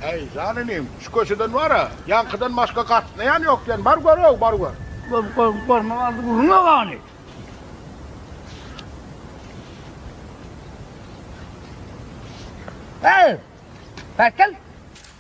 Äý, jan inim, şu köçeden bar-a, ýaňkydan başga gatnaýan ýok diýen, bar gör-ow, bar gör. Barmak aldy gürrüň-ä gani. Äý, päk gel.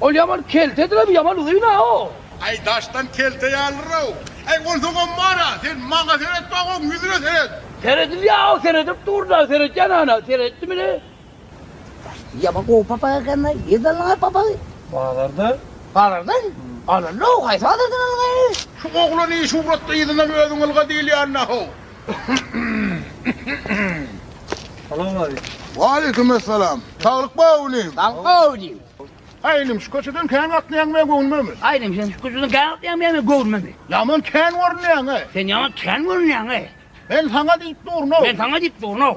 Ol ýaman keltedir-ow, ýaman uzyn-ow. Äý, daşdan kelte ýalydyr-ow. Äý, ol soňam bar-a, sen maňa seret baý, oň ýüzüne seret. Seredilýär-ow, seredip dur-da, seretýän ana, seretdimini? Ýaman gowy papak eken-le, nirden aldyň-a papagy? Bazardan. Bazardan? Alyndy-ow, haýsy bazardan aldyň-a? Şu oglany şuwratda yzyndan özüň ylga diýilýände-ow. Salam aleýkum. Waleýkim essalam. Saglyk bar inim. Saglyk bar inim. Aý inim şu köçeden kän gatnaýaň men göwnüme. Aý inim sen şu köçeden kän gatnaýaň men göwnüme. Ýaman kän görünýäň-eý. Sen ýaman kän görünýäň-eý. Men saňa diýip durun-ow. Men saňa diýip durun-ow.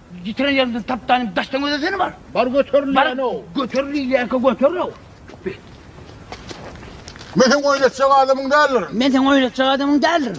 Ýitiren ýerimden tapdanym daşdan gözesene bar. Bar göterilýänow. Göter diýilýänkä göterow. Bit. Men seň oýnatjak adamyň däldirin. Men seň oýnatjak adamyň däldirin.